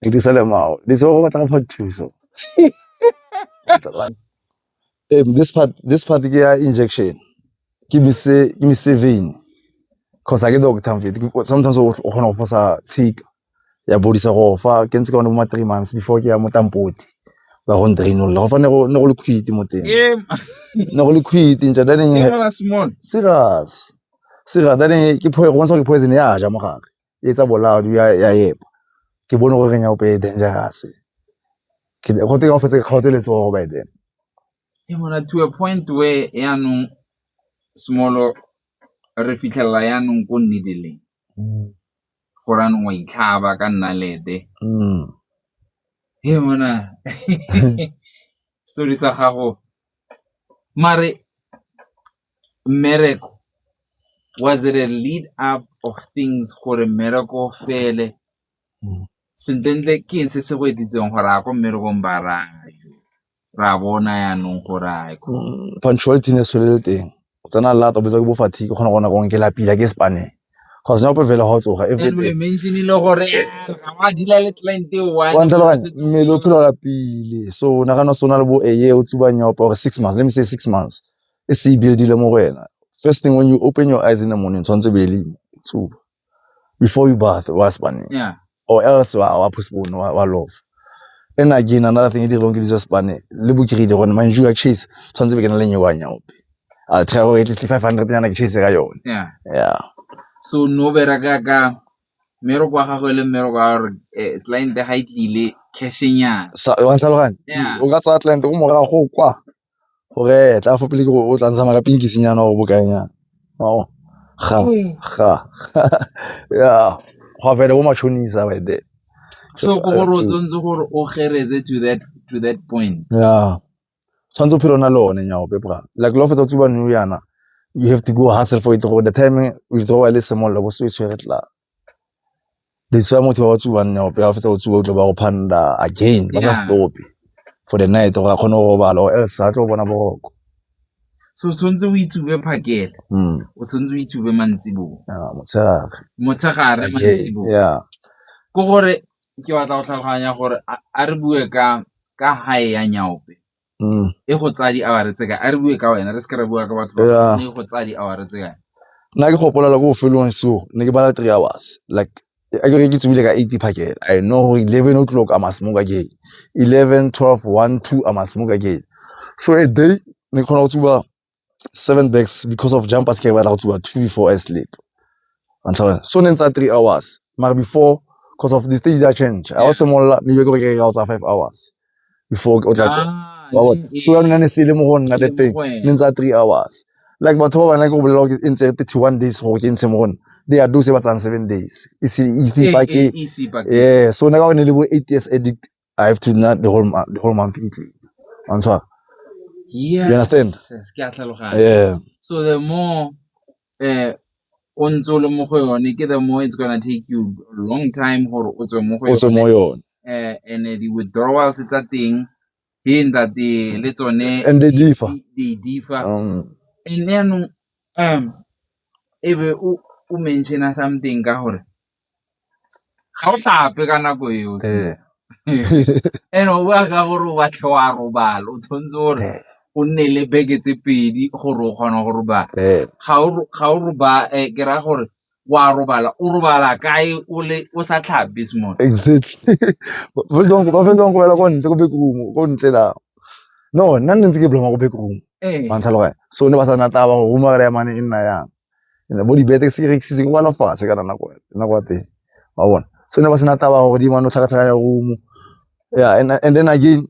ne ke sele mao le so go batla go fa thuso um, this part this part ke ya injection ke mise ke mise vein cause a ke doctor mfethu Ke- sometimes o o kgona go fosa tshika ya bodisa gore fa ke ntse ka one bo ma three months before ke ya mo tampoti ba go ntrainolla go fa ne go le quit mo teng ne go le quit ntsha daneng serious serious daneng ke phoe go bontsha ke poison ya ja mo gare e tsa bolao ya ya epa ke bone gore nya ope dangerous ke go teka go fetse ke kgaotse letso go by then e mona to a point where ya no small re fitlhela ya no go nne dileng go ra nngwe e itlhaba ka nnalete hee monna story sa gago mare mmereko was it a lead up of things gore mmereko o fele sentlentle ke eng se se go etsitseng gore ya ko mmerekong ba raya. Re a bona yanong gore a e mm, punctuality ne se le teng. O tsena lata o betsa ke bo fatigue o kgona go nako ke lapila ke spaneng. Cause nyapo fele ga o tsoga e fete. Anyway, mention ile gore eh, ga wa dila le client e Wa one. ntlhaloganya mmele o phela o lapile so o nagana se o na le bo eye o tsuba nyopa or six months let me say six months e se e buildile mo go wena first thing when you open your eyes in the morning tshwanetse o be e le mo o tsuba before you bath wa se bane yeah or else wa wa postpone wa, wa love and again another thing e dirong ke dijo spane le bokiride gone man you chase tshwanetse be ke na le nyewa nyaope a try go at least 500 nyana ke chase ka yone yeah yeah so no bereka ka meroko wa gago e le mmeroko wa gore eh, client ga e tlile cashing yana sa wa tlhaloganya Yeah. o ka tsaya client go morago go kwa go retla a fo pele ke gore o tla ntsha maka pinkisenyana gore bokanyana mao ga ga ya go fele bo machonisa by there so go gore o tshwanetse gore o geretse to that to that point yeah tshwanetse o phele o na le one nyao pepra like lo fetsa tsuba new yana you have to go hustle for it gore the time o itse go ba le semollo bo se o tshwere tlala le tsaya motho ba ba tsubang nao pele ga fetsa go tsuba o tlo ba go phanda again ba sa stop-e for the night gore a kgone go robala or else ga tlo go bona boroko so tshwanetse o itsube phakela hmm. o tshwanetse o itsube mantsiboa motshegare motshegare mantsiboa ya ke gore ke batla go tlhaloganya gore a re bue ka ka hae ya nyaope mm. e go tsaya di-hour tse kae a re bue ka wena re seke re bua ka batho ba e go tsaya di-hour tse kae nna ke gopolela ko bofelong seo ne ke bala three hours like a ke re ke tsebile ka eighty phakela i know gore eleven o'clock a masmoke again eleven twelve one two a masmoke again so a day ne ke kgona go tsuba seven bags because of jump pass ke batla go tsuba two before I sleep wa ntlhola so ne ntsa three hours mara before because of the stage that change I was simolola mme ke gore ke ka tsa five hours before o tla tsa wa bona so ya nna ne se le mo go nna the thing ne ntsa three hours like batho ba bana ke go bolela gore e ntse thirty one days gore ke ntshe mo go nna they are those ba tsang seven days ise ise pake yeah so nna ka one le bo eight years addict I have to nna the whole month, the whole month e tlile. Wa ntshwara? Yes. You understand? Yes, ke a tlhaloganya. Yeah. So the more eh o ntse o le mo go yone ke the more it's gonna take you a long time gore o tswe mo go O tswe mo yone. Eh and eh, the withdrawals tsa teng he nda the le tsone And they differ. They differ. Um, And then um ebe o o mention something ka gore ga o tlhape ka nako eo and-e o bua ka gore o batla wa robala, o tshwanetse gore o nne le beke tse pedi gore o kgona go robala. Ga o robale ke raya gore wa robala, o robala kae o sa tlhape small. Exactly ba felelang go robala ko ntle ko backroom ko ntle la no nna ne ntse ke ko backroom wa ntlhaloganya so ne ba sa nna taba gore room ya reye mane e nna yang. and bo dibete se rekisitse kwa lefatshe ka nako nako ya teng wa bona so ne ba sena taba gore di mano tlhakatlhaka ya room yeah and, and then again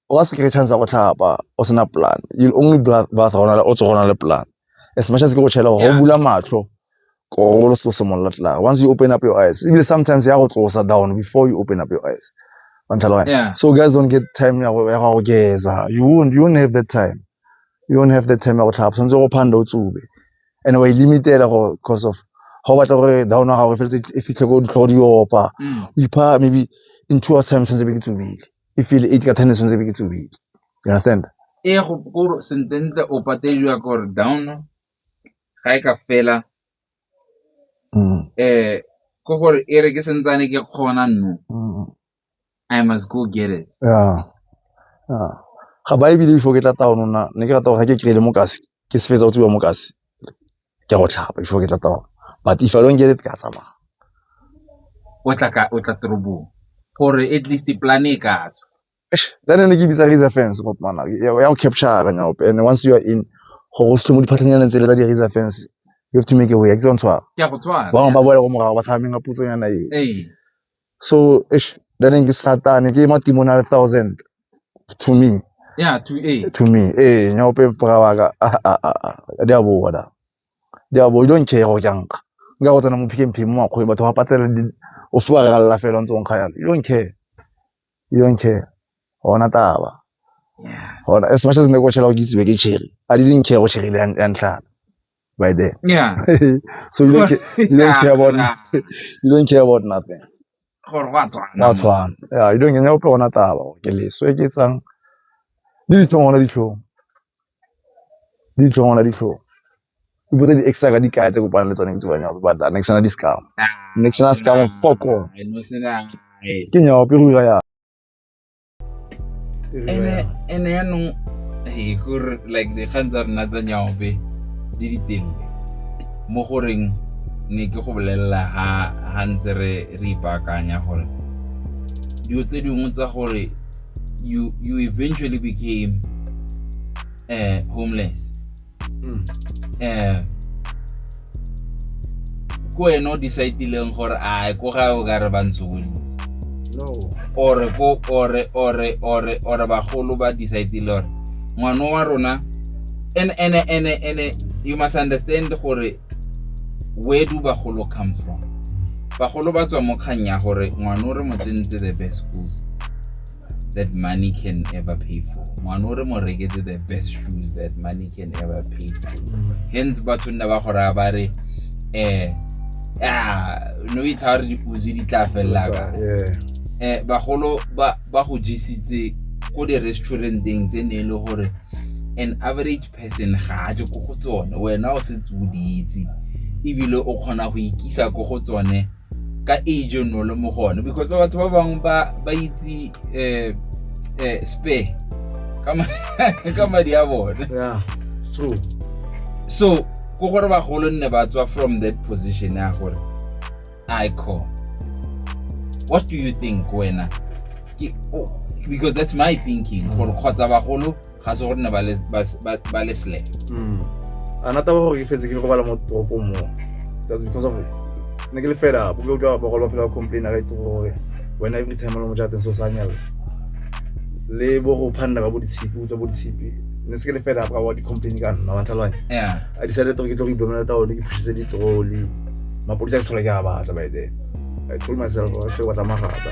wa se kry chance ya go tlhapa o sena plan you only bath gona o tsogona le plan as much as ke go tšhela gore go bula matlho koro lo so simolola tla once you open up your eyes even sometimes ya go tsosa down before you open up your eyes yeah. so guys don't get time ya go geza you won't you won't have that time you don't have the time ya go tlhapa tshwanetse go phanda o tsube and wa ilimitela e gore cause of ga o batla gore down wa gago e feletse e fitlhe ko ditlhogo di opa mm. o ipha maybe in two hours time tshwanetse be ke tsubile e feel eight ka ten tshwanetse be ke tsubile you understand e go go sententle o patediwa gore down ga e ka fela mm. eh ko gore e re ke sentsane ke kgona nno mm. I must go get it. Yeah. Yeah. Ga ba ebile before ke tla taono na ne ke rata gore ke kry-ile mokase ke se fetsa go tsiwa mokase ke go tlhapa before ke tla taono but if I don't get it ke a tsamaya. O tla ka o tla torobong gore at least plan e ka tswa. Then ne ke bitsa razor fence go mana ya go capture ka nyaope and once you are in go go selo mo diphatlhanyana tse le tsa di razor fence you have to make a way ke tsone tshwara. Ke a go tshwara. Ba bangwe ba boela go morago ba tshameng ka putsonyana e. Ee. So, eish, then ngi satane ke matrimonial thousand to me. Yeah, to eh. To me. Eh, nya ope mpaka wa ka. Ah ah ah. ah. Dia bo da. Dia bo don't care go jang. Nga go tsena mo phike mphe mo akho batho ba patela di o swa ga la fela ntse on khaya. You don't care. You don't care. Ona taba. Yes. Ona as much as ne go tshela go gitse be ke cherry. I didn't care go cherry ya ntlha. by then. Yeah. so you don't, care, you don't yeah, care about nah. you don't care about nothing. gore go a tshwana go tshwana ya you don't nyanya ope gona taba ke leso e ke tsang le ditlhong gona ditlhong le ditlhong gona ditlhong o botsa di extra ka dikaya tse kopana le tsone ke tsebanya go batla next na discam next na scam foko ke nyaope go ira ya ene ene yanong e kore like dikgang tsa rona tsa nyaope di ditelele mo goreng ne ke go bolelela ha ha ntse re re ipaakanya gore dilo tse dingwe tsa gore you you eventually became uh, homeless mm. eh ko wena o decidileng gore a ko ga o ka re ba ntshokodise ore ko ore ore ore ore bagolo ba decidile gore ngwana wa rona ene ene ene ene you must understand gore where do bagolo come from bagolo ba tswa mo kgang ya gore ngwana o re mo tsentse the best schools that money can ever pay for mwana o re mo reketse the best shoes that money can ever pay for mm. hence batho nna ba go raya ba re um ah, no itha gore diuzi di tla felelaka um eh, bagolo ba go jesitse ko di-restauranteng tse ne e le gore an average person ga a je ko go tsone wena o setse o di itse ebile o kgona go ikisa ko go tsone ka age o nole mo go one because ba batho ba bangwe ba itse um um spare ka madi a bone so ko gore bagolo nne ba tswa from that position ya gore icon what do you think wena because that's my thinking gore kgotsa bagolo ga se gore ne ba le- ba- ba- ba le slack Mm. a nata ba gore ke fetse ke le go bala mo toropong mo that's because of ne ke le fela bo ke utlwa bagolo ba phela ba complain a ka itse gore wena every time o le mo jateng so sa nyala le bo go phanda ka bo ditshipi o tsa bo ditshipi ne se ke le fela ka wa di-complain ka nna wa tlhaloganya yeah I decided gore ke tlo go iblomela taone ke phusitse ditroli mapodisa ke se tlhola ke a batla by then I told myself gore ke batla magata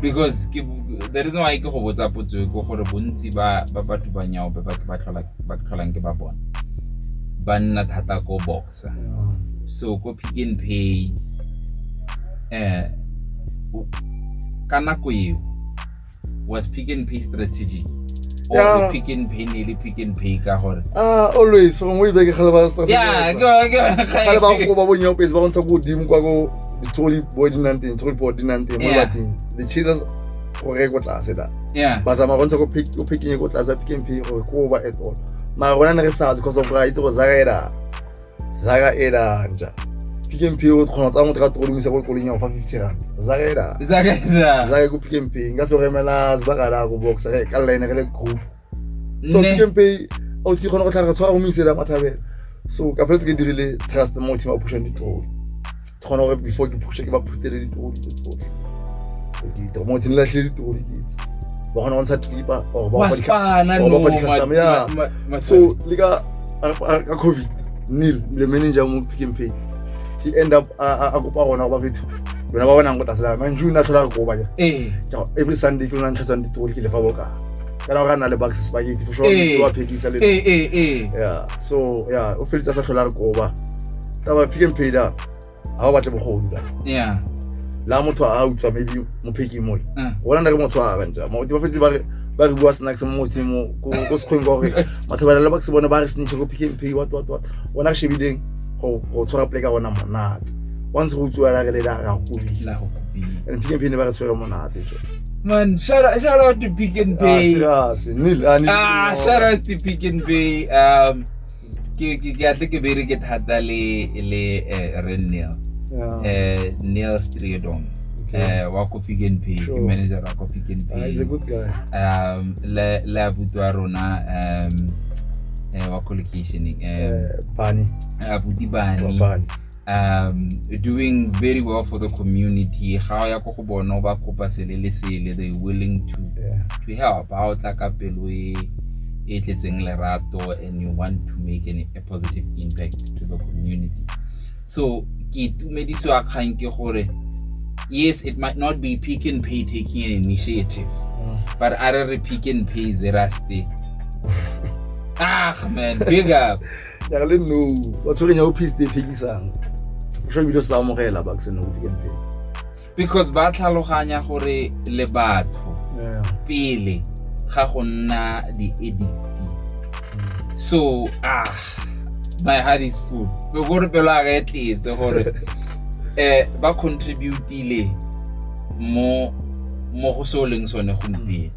because ke the reason why ke go botsa potso e go gore bontsi ba ba batho ba nyao ba ba ba tlhola ba tlholang ke ba bona ba nna thata ko boxa so ko pick and pay eh ka nako eo was pick and pay strategic Yeah. pick and pay ne le pick and pay ka gore ah always gongwe e beke gale ba yeah go go gale ba go ba bonyaopetse ba go ntsha ko godimo kwa ko ditsogodi bo di nang teng tsogodi bo di nang teng mo Yeah. bateng the chances go reye ko tlase da yeah ba tsamaya go ntsha ko pick- ko picking ko tlase pick and pay gore ko ba at all mara rona ne re sa because of ra itse go zaka eda zaka eda nja pick and pay o kgona tsa motho ka tolomisa ko kolong ya go fa 50 rand zaka eda zaka zaka zaka ko pick and pay nka se go emela zbaka da go box re ka line re le group so Nne. pick and pay o tsi kgona go tlhaga tshwara go mo isela mathabela so ka feletse ke dirile trust mo team a pushang ditroli ke kgona gore before ke pushe ke ba phutele ditroli tse tsotlhe ditiro mo team latlhile ditroli ke itse ba kgona go ntsha tlipa or ba wa go fa dikha- spana or ba no fa di-custom, ma- yeah. ma- ma- ma- so le ka a- a- ka covid neil le manager mo pick and pay he end up a a- a kopa gona go ba fetho lona ba bonang go tasela man june a tlhola go koba ja ee Ciao, every Sunday ke lona ntlhatswang ditori ke lefa boka kana ga na le box spaghetti for sure ee. wa phekisa le ee, ee, yeah so yeah o felitsa sa tlhola re koba ka ba pick and pay da ha o batle bogodu da yeah la motho a utlwa maybe mo pheki mo uh. wona nda ke motho a bantsa mo di ba fetse ba re ba re bua snacks mo motho mo ko ko sekgweng go re matho ba le box bona ba re snitch go pick and pay what what what wona she bideng go go tshwara play ka bona monate once go utlwa la re le la ra go pila and pick and pay ne ba re tshwere monate Man, shout out, shout out to Pick n Pay. Ah, ah shout out to Pick n Pay. Um, ke ke ke atle ke bere ke thata le le eh, re Neil. Eh, Neil Stridon. Eh, wa ko Pick n Pay, ke manager wa ko Pick n Pay. Ah, he's a good guy. Um, le le abutu a rona um eh wa ko location eh Bani. Abuti Bani. um doing very well for the community ga o ya ko go bone o ba kopa sele le sele they willing to yeah. to help ga o tla ka pelo e e tletseng lerato and you want to make an, a positive impact to the community so ke itumedisiwa kgang ke gore yes it might not be pick and pay taking an initiative mm. but are re pick and pay zeraste ah man big up ya le no ba tshwereng ya office e phekisang sho ebile se amogela ba ke seno go dikeng pele because ba tlhaloganya gore le batho pele ga go nna di-edit so ah my heart is full be gore pelo a ka e tletse gore um ba contributile mo go se o leng sone gompieno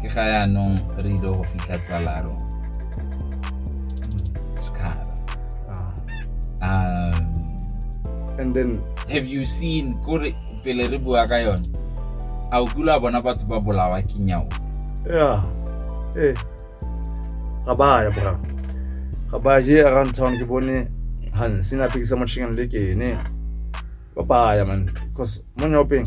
ke ga yaanong re ile go fitlha tsalaro sekgara ah. um and then have you seen kore pele re bua ka yone a o kula bona batho ba bolawa ke nyao yeah eh ga ba ya bra ga ba je around town ke bone ha sina pekisa mo chicken le ke ne ba baya man because mo nyopeng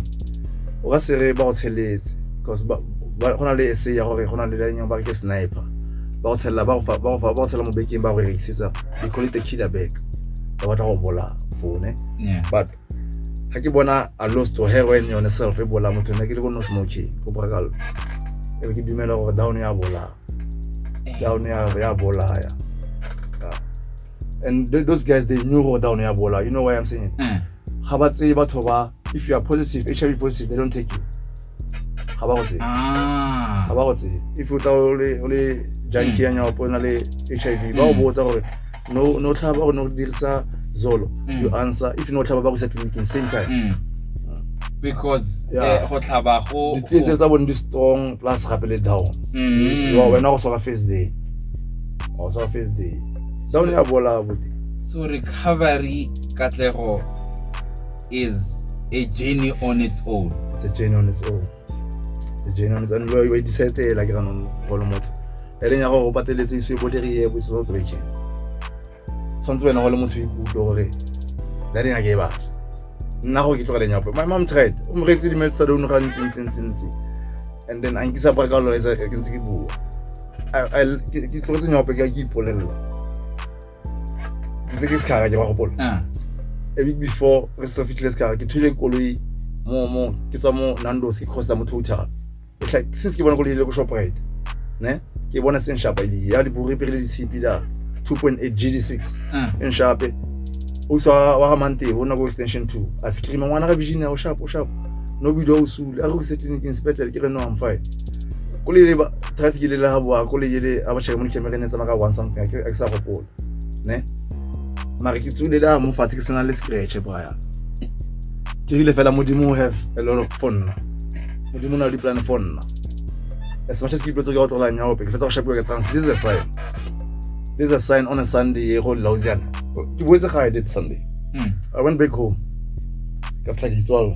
o ka se re ba go tsheletse because go na le ese ya gore go na le lanyang ba ke sniper ba go tshelela ba go tshela mo bekeng ba go rekisetsa they call it a killer bag ba batla go bola fone but ga ke bona a lost to heroin yone self e bola motho ne ke le ko no smoking go bora kalo e be ke dumela gore down ya bola eh. down ya bolaya and th those guys they knew go down ya bola you know why i'm saying it mm. ga ba tseye batho ba if you are positive hiv positive they don't take you ga ba go tseye ah. ga ba go tseye if o tla o le janki ya mm. nyaopo o na le hiv ba o mm. botsa gore no no tlhaba gore no dirisa zolo you mm. answer if no tlhaba ba go sa tleliniking same time mm. because eh, go tlhaba go ditsietse tsa bone di strong plus gape le down mm. wena go soka face day ga o sa face day sa o ne a bola bote so recovery katlego is a journey on its own it's a journey on its own the journey on its own lo e decide la ke ganong go le motho e leng ya gore o pateletse iso e bodiriye bo se no breaking tshwanetse wena go le motho ikutlwe gore that eng a ke e batla nna go ke tlogeleng yapo my mom tried o mo reetse dimelo tsa dono ga ntsintsintsintsintsi and then a nkisa bra ka lone ke ntse ke bua ke tlogetse nyaope ke ke ipolelela ntse ke sekgara ke ba gopola ah. a week before re sa fitlhile sekgara ke thule koloi mo mo ke tswa mo nandos ke kgosa mo total since ke bona ko lehile ko shoprite ne ke bona se nshapa ile ya liburi pele le ditshipi la 2.8 gd6 e nshape o sa wa ga mante o na go extension 2 a scream ngwana ga vision ya o shapa o shapa no bidio o sule a go se tleliniking sepetlele ke re no am fine ko le traffic le la ha boa ko le yele a ba shaka mo camera ne tsama ka one something a ke sa gopola ne mare ke tsule da mo fatshe ke sena le scratch braya ke rile fela modimo have a lot of fun nna modimo na le plan for nna as much as people tse ke otlolang ya ope ke fetsa go shapiwa ke trans this is a sign this is a sign on a sunday ye go lausiana ke boetse ga i did sunday mm. i went back home ka fitla ke itswalo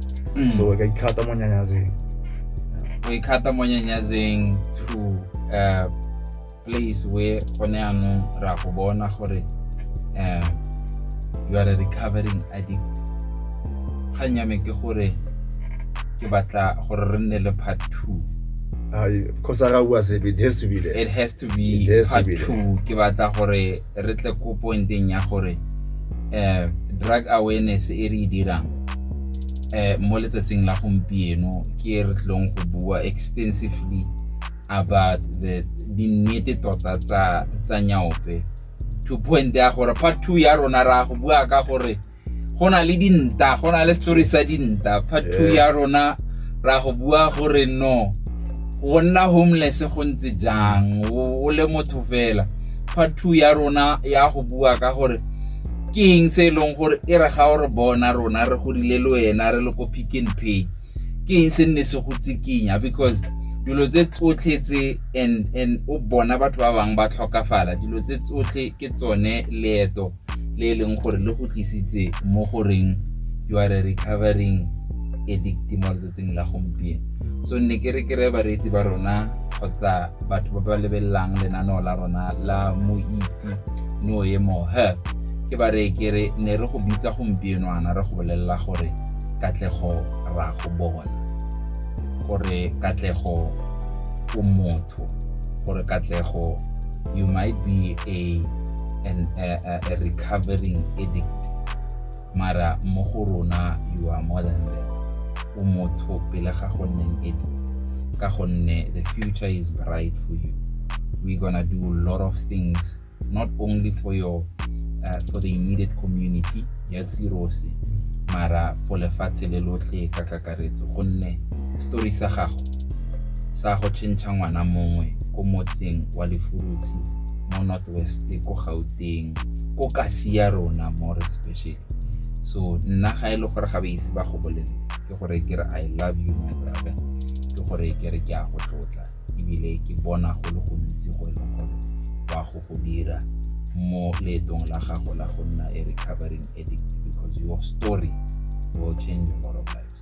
mm. so ka ikgata mo nyanyazeng o ikgata mo nyanyazeng to uh, place where gone yanong ra go bona gore um you are a recovering addict kgang ya me ke gore ke batla gore re nne le part two because it has to be there it has to be it has part to be two ke batla gore re tle ko pointeng ya gore um drug awareness e re e dirang um mo letsatsing la gompieno ke re tlong go bua extensively about the dinnete tota tsa nyaope to point ya gore part two ya rona ra go bua ka gore go na le dinta go na le story sa dinta part two eh. ya rona ra go bua gore no go nna homeless go ntse jang o le motho fela part two ya rona ya go bua ka gore ke eng se e leng gore e re ga o re bona rona re godile le wena re le ko pick and pay ke eng se nne se go tsikinya because dilo tse tsotlhe tse and and o bona batho ba bangwe ba tlhokafala dilo tse tsotlhe ke tsone leeto le e leng gore le go tlisitse mo goreng you are a recovering addict mo letsatsing la gompieno so nne ke re ke re bareetsi ba rona kgotsa batho ba ba lebelelang lenaneo la rona la moitse no ye mo he ke ba re ke re ne re go bitsa gompienoana re go bolelela gore katlego ra go bona gore katlego o motho gore katlego you might be a an, a, a, a recovering addict mara mo go rona you are more than that o motho pele ga go nneng addict ka gonne the future is bright for you we're gonna do a lot of things not only for your uh, for the immediate community ya tsirose mara for lefatshe le lotlhe ka kakaretso gonne story sa gago sa go tšhentšha ngwana mongwe ko motseng wa lefurutshi mo west ko gauteng ko kasi ya rona more especially so nna ga e le gore ga ba ise ba go bolele ke gore ke re i love you my brother ke gore ke re ke a go tlotla ebile ke bona go le gontsi go e leng gore wa go go dira mo leetong la gago la go nna a recovering addict because your story will change a lot of lives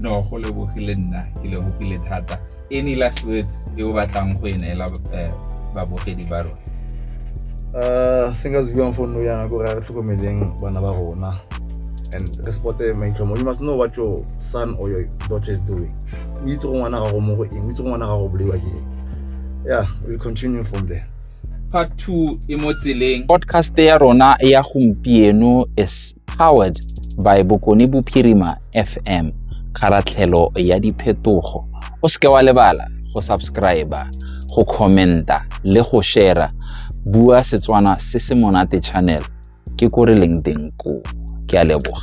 no go lebogile nna ke lebogile thata any last words e o batlang go e neela eh, babogedi ba rona um se nka se buang fo nno yana kore re tlhokomeleng bana ba rona and re supporte maitlhomo you must know what your son or your daughter is doing o itse go ngwana gago mo go eng o itse go ngwana gago bolaiwa ke eng yeah we'll continue from there part 2 e mo tseleng podcast ya rona ya gompieno is powered by bokone bophirima fm kgaratlhelo ya diphetogo o seke wa lebala go subscribe go commenta le go share bua setswana se se monate channel ke ko re leng teng ko ke a leboga